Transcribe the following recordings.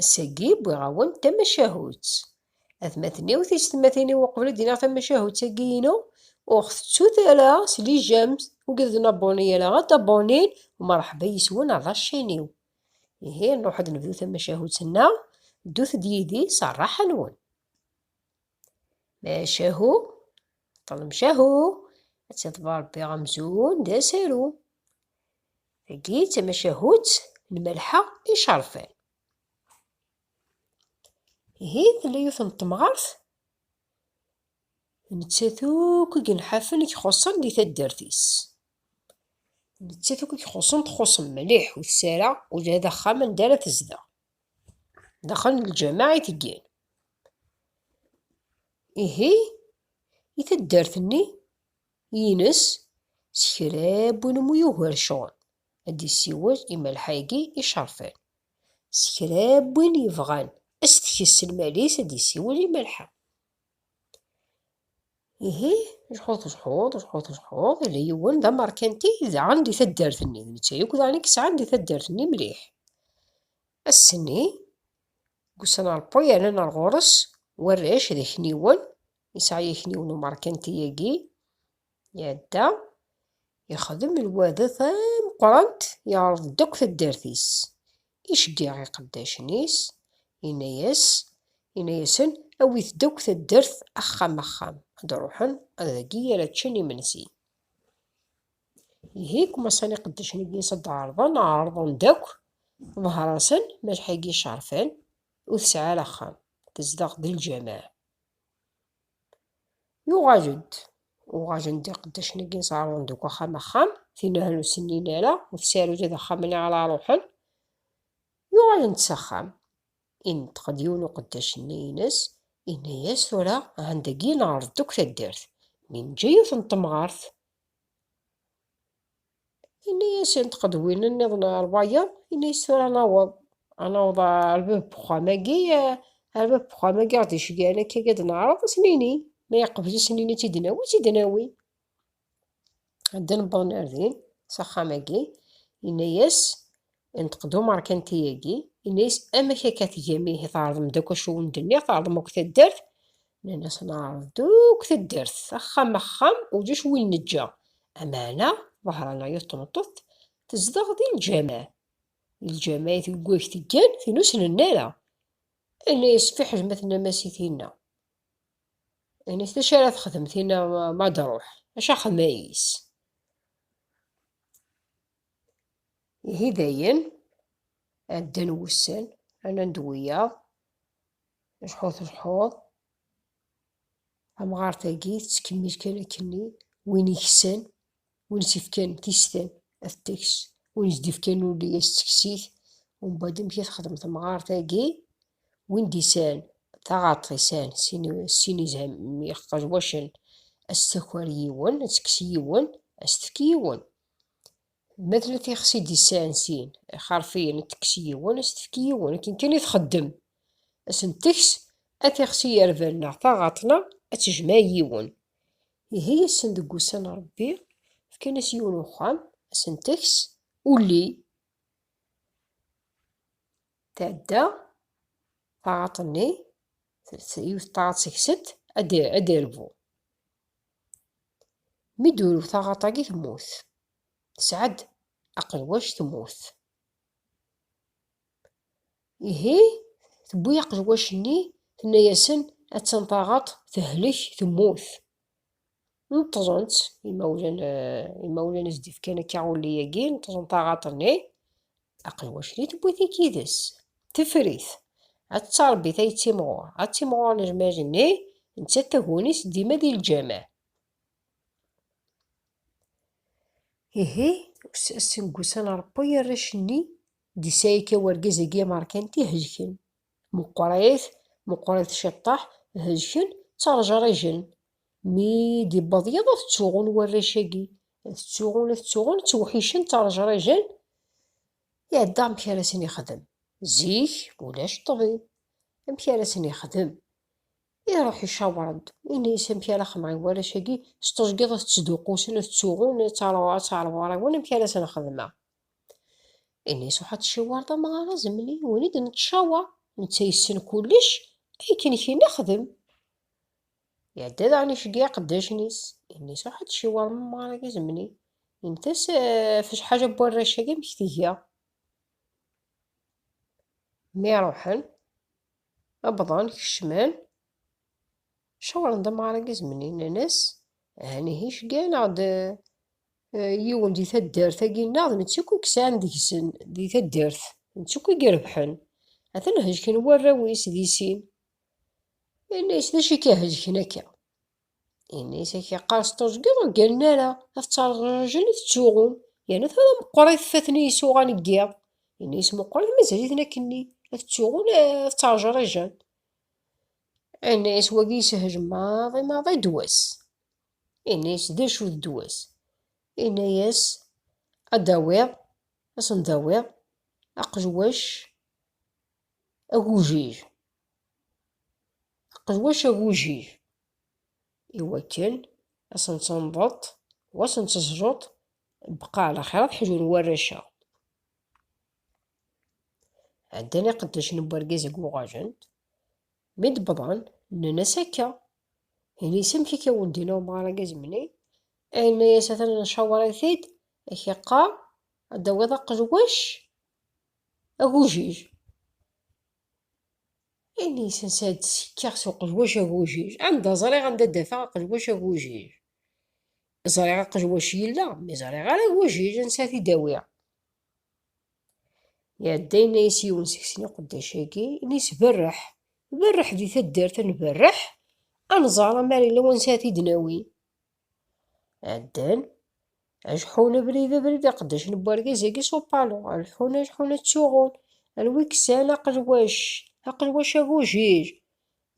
Ass-agi wwiɣ-awen-d tamacahut. Atmaten-iw, tiysetmatin-iw uqbel ad d-iniɣ tamacahut-agi inu, ur ɣ-tettut ara s lijam, ur giḍ d-nabuni ara, ad d-abunin, umreḥba yis-wen a ḍacc-iniw. Ihi nruḥ ad d-nebdu tamacahut-nneɣ, ddut-d yid-i s rraḥa-nwen. Macahu, ṭṭlem cahu, ad tiḍbar Rebbi amzun d asaru. Tagi d tamacahut n Malḥa Icarfan. Ihi tella yiwet n temɣart nettat akk i yenḥafen i ixuṣṣen di taddart-is. Nettat akk i ixuṣṣen txuṣṣ mliḥ ur tesɛi ara ula d axxam anda ara tezdeɣ. Daxel n lǧameɛ i teggan. Ihi i taddart-nni Yines, s kra n win umi yugar ccɣel, ad d-yessiwel i Malḥa-agi icerfen. S kra n win yebɣan ad s-tekkes s lmal-is, ad d-yessiwel i Malḥa. Ihi, jḥut jḥut, jḥut jḥut, yella yiwen d amerkanti daɣen di taddart-nni, d netta yakk daɣen i yesɛan di taddart-nni mliḥ. Ass-nni, deg usnalpu yernan ar ɣur-s warrac d akniwen Yesɛa akniwen umerkanti agi, iɛedda ixdem lwadat ameqqrant, iɛreḍ-d akk taddart-is, iceggiɛ iqeddacen-is, yenna-yas, yenna-yasen awit-d akk taddart axxam axxam, ad d-ruḥen ad dagi ara ččen imensi. Ihi kumaṣan iqeddacen-agi s ad d-ɛerḍen, ɛerḍen-d akk, ḍher-asen, malḥa-agi Cerfan ur tesɛi ara axxam, tezdeɣ d lǧameɛ. Yuɣal-d, uɣalen-d iqeddacen-agi ẓerrun deg axxam axxam, tinehel ur sinin ara, ur tesɛi ula d axxam-nni ara ruḥen. Yuɣalen-d s axxam, ineṭeq-d yiwen uqeddac-nni ines, yenna-yas tura ahan dagi neɛreḍ-d akk taddart, mi neǧǧa yiwet n temɣart. Ini-asent qed win-nniḍen ar wayeḍ, ini-as tura naweḍ, anaweḍ ar bab uxxam-agi, ar bab uxxam-agi ɣer d-iceggan akka ad neɛreḍ ad sen-ini, ma yeqbel ad sen-ini ad tt-id-nawi, ad tt-id-nawi. Ddan wwḍen ar din, s axxam-agi, ini-as Inṭeq-d umerkanti-agi, inna-yas, Amek akka tgam ihi, tɛerḍem-d akk acu wen-d-nniɣ, tɛerḍem akk taddart? Nnan-as, Neɛreḍ-d akk taddart, axxam axxam, ulac win neǧǧa. Ameɛna, ḍehr-aneɣ yiwet n tmeṭṭut tezdeɣ di lǧameɛ. Di lǧameɛ i tgegg teggan, tin ur snen ara. Inna-yas, Fiḥel ma tennam-as i tinna. Inna-yas, D acu ara texdem tinna ma d-truḥ? Acu axemmay-is? Ihi dayen, ɛeddan wussan, rnan-d wiyaḍ, lḥu telḥuḍ, tamɣart-agi tettkemmil kan akkenni, win iksan, win i s-ifkan tistan ad t-teks, win i s-d-ifkan ulli ad s-tekkes-it, umbeɛd amek i texdem temɣart-agi, win d-isɛan taɣaṭ isɛan sin iqejwacen ad s-taker yiwen, ad tekkes yiwen, ad s-tefk yiwen. Ma tella tixsi i d-isɛan sin, ixerfiyen, ad tekkes yiwen, ad s-tefk yiwen, akken kan i txeddem. Ad sen-teks, ad tixsi yerban neɣ taɣaṭ neɣ ad tejmeɛ yiwen. Ihi ass-n deg wussan n Rebbi, fkan-as yiwen uxxam, ad sen-teks, ulli, tɛedda taɣaṭ-nni, yiwet taɣaṭ seg-sent, ad d-irbu. Mi d-turew taɣaṭ-agi temmut. Tesɛa-d aqelwac temmut. Ihi tewwi aqelwac-nni tenna-yasen attan taɣaṭ tehlek temmut. Neṭṭzen-tt imawlan, imawlan i s-d-ifkan akka ulli-agi, neṭṭzen taɣaṭ-nni. Aqelwac di tewwit-ik yid-s, tefrit, ad tettarbit ay ttimɣur, ad ttimɣur lejmaǧ-nni, nettat taguni-s dima di lǧameɛ. Ihi, ass n wussan Ṛebbi, arrac-nni, d-isɛika wergaz-agi ameṛkanti hejken. Meqqrit, meqqrit ciṭṭaḥ, hezken, ttarjrijen. Mi d-iwweḍ yiḍ, ad ttuɣun warrac-agi. Ad ttuɣun, ad ttuɣun, ttewḥicen, ttarjrijen. Iɛedda amek ara sen-ixdem. Zik, ulac ṭṭbib. Amek ara sen-ixdem? Iruḥ icawer-d, ini-as amek ara xedmeɣ i warrac-agi, s teẓgi ad ttduqqusen, ad ttuɣun, ad ttɛerriwen amek ara sen-xedmeɣ. Ini suḥat ciwar d amɣar azemli win i d-nettcawaṛ netta yessen kullec akken kien ixdem. Iɛedda daɣen iceggeɛ iqeddacen-is. Ini suḥat ciwar d amɣar azemli intas ɣef acḥal n warrac-agi amek tga. Mi ruḥen, wwḍen, kecmen. Cawren-d amɣar agizmen innan-as, Ahan ihi ceggan-aɣ-d eh, yiwen di taddart-agi-nneɣ, d netta akk i yesɛan deg-sen di taddart, d netta akk i irebḥen. Atan hejken warraw-is di sin. Inna-yas, d acu i k-ihejken akka? Inna-yas, ak iqqar s teẓgi ur gganen ara, ad ttreǧraǧen i tettuɣum, yerna tura meqqrit faten isuɣan n yiḍ. Inna-yas, meqqrit mazal-iten akkenni, ad tettuɣun, ad ttreǧriǧen. Ini-as wagi yeshel maḍi maḍi ddwa-s. Ini-as d acu d ddwa-s. Ini-as ad d-awiḍ, ad sen-d-awiḍ aqejwac agujij. Aqejwac agujij iwakken ad sen-tenḍeḍ wa sen-teẓẓuḍ bqaɛ laxir ad ḥjun warrac-a. Ɛeddan iqeddacen n urgaz deg uɣajent, mi d-wwḍen, nnan-as akka. Ini-as amek akka wendin umɣar agazmni, yenna-as atan ncawer-it-id, ak yeqqar ad d-tawiḍ aqelwac agujij. Ini-as ansa ad d-sekkeɣ s uqelwac agujij, anda ẓriɣ anda d-afeɣ aqelwac agujij. Ẓriɣ aqelwac yella, mi ẓriɣ ara agujij ansa ad t-id-awiɣ. Iɛedda yenna-yas yiwen seg sin iqeddac-agi, ini-s berreḥ, berreḥ di taddart ad nberreḥ, ad nẓer amar yella wansi ad t-id-nawi. Ɛeddan, ajeḥḥun abrid abrid iqeddacen n wergaz-agi s upalu, ajeḥḥun ajeḥḥun ad ttuɣun, anwa i yesan aqelwac, aqelwac agujil,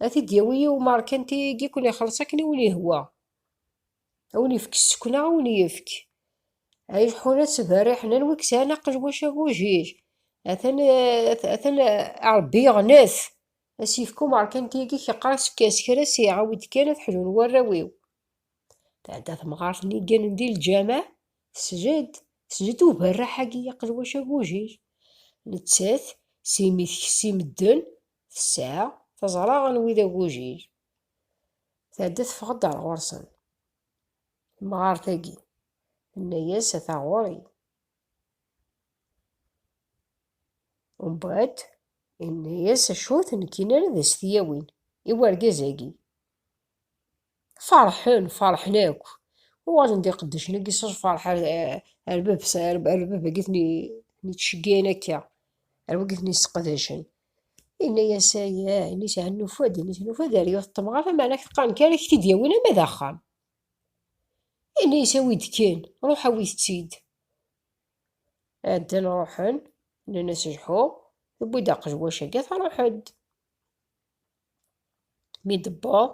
ad t-id-yawi yiwen merkanti-agi i ken-ixelleṣ akken i wen-yehwa. A win ifk ssekna, a win ifk. A ileḥḥun ad ttberriḥen, anwa i yesɛan aqelwac agujij? Atan, atan Ṛebbi yeɣnef. A s-yefk umeṛkanti-agi keqqar s kra s iɛawed kan ad ḥlun warraw-iw. Tɛedda temɣart-nni gganen di lǧameɛ, tesjed, tesjed uberraḥ-agi aqelwac agujij. Nettat, s imi tekes i medden, tesɛa, teẓra anwa i d agujij. Tɛedda teffeɣ-d ar ɣur-sen. Temɣart-agi, tenna-yas, ata ɣur-i. Umbeɛd, yenna-yas, acu ur ten-gin ara ad as-t-yawin i wergaz-agi. Ferḥen, ferḥen akk. Uɣalen d iqeddacen-agi s lferḥ ar ar bab-s, ar bab-agi ten-ittceggiɛen akka, ar wagi ten-isseqdacen. Inna-yas, ay, ay, ini s nufa-d, ini s nufa-d, ar yiwet temɣart, am ɛlac qqaren kan ak t-id yawin ama d axxam. Inna-yas, awi-d kan, ruḥ awit-tt-id. Ɛeddan ruḥen, nnan-as lḥu, tewwi-d aqejwac agi, truḥ-d. Mi d-tewweḍ,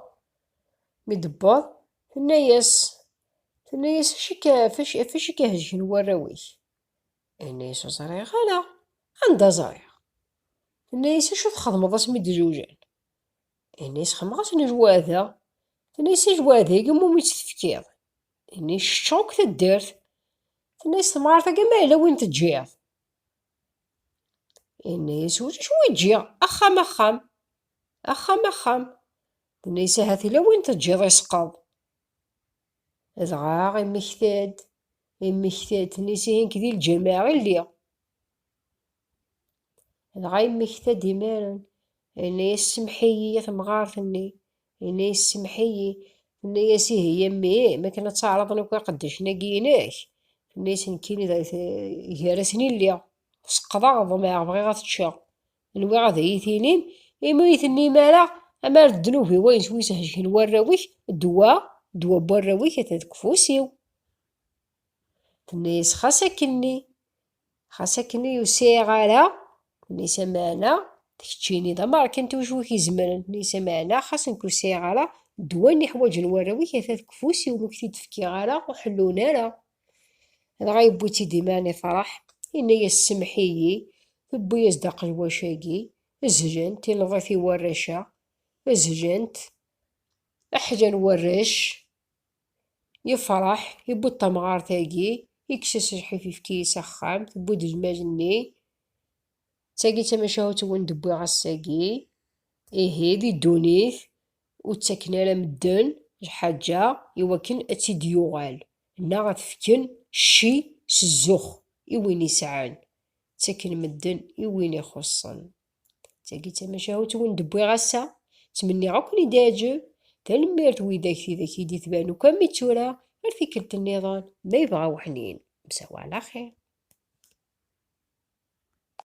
mi d-tewweḍ, tenna-yas, tenna-yas, acu akka, acu akka hezgen warraw-ik? Tenna-yas ur ẓriɣ ala, anda ẓriɣ? Tenna-yas acu txedmeḍ asmi d-zewjen? Tenna-yas xedmeɣ-asen ajwada. Tenna-yas ajwad-agi iwumi tt-tefkiḍ? Tenna yeccetka akk taddart. Tenna-yas temɣart-agi ma yella win teǧǧiḍ? Yenna-yas ulac wi ǧǧiɣ, axxam axxam, axxam axxam. Tenna-yas ahat yella win teǧǧiḍ isqeḍ. Dɣa immekta-d, immekta-d, nisi hink di lǧameɛ i lliɣ. Dɣa immekta-d imaren, yenna-yas semḥ-iyi a temɣart-nni, yenna-yas semḥ-iyi, tenna-yas ihi a mmi, ma akken ad taɛraḍen akk iqeddacen-agi-inek, tenna-yas nekkini gar-asen i lliɣ, seqqḍeɣ ḍmeɛ bɣiɣ ad t-ččeɣ, nwiɣ ad iyi-tinim imi ur tennim ara amar d ddnub-iw ayen swi sḥejken warraw-ik ddwa ddwa n warraw-ik atan deg ufus-iw tenna-yas xas akkenni xas akkenni ur sɛiɣ ara tenna-yas amaɛna d keččini d ameṛkanti wacu i k-izemren tenna-yas amaɛna xas nekk ur sɛiɣ ara ddwa-nni ḥwaǧen warraw-ik atan deg ufus-iw ur k-t-id-fkiɣ ara ur ḥellun ara dɣa yewwi-tt-id iman ifreḥ, yenna-yas semmeḥ-iyi, tewwi-yas-d aqelwac-agi, zhent, ileḍ-it i warrac-a, zhent, aḥla n warrac, yefreḥ, yewwi-d tamɣart-agi, yekkes-as lḥif yefki-yi s axxam, tewwi-d lmal-nni, d tagi d tamacahut-wen d-wwiɣ ass-agi, ihi di ddunit, ur ttaken ara medden lḥaǧa i wakken ad tt-id-yuɣal, neɣ ad t-fken cci s zzux i win isɛan, ttaken medden i win ixuṣṣen. D tagi tamacahut i wen-d-wwiɣ ass-a, ttmenniɣ ad ken-id-iɛǧeb, tanemmirt widak tidak i d-itban akk am i tura, ar tikkelt nniḍen ma yebɣa weḥnin, msawa ɛla xir.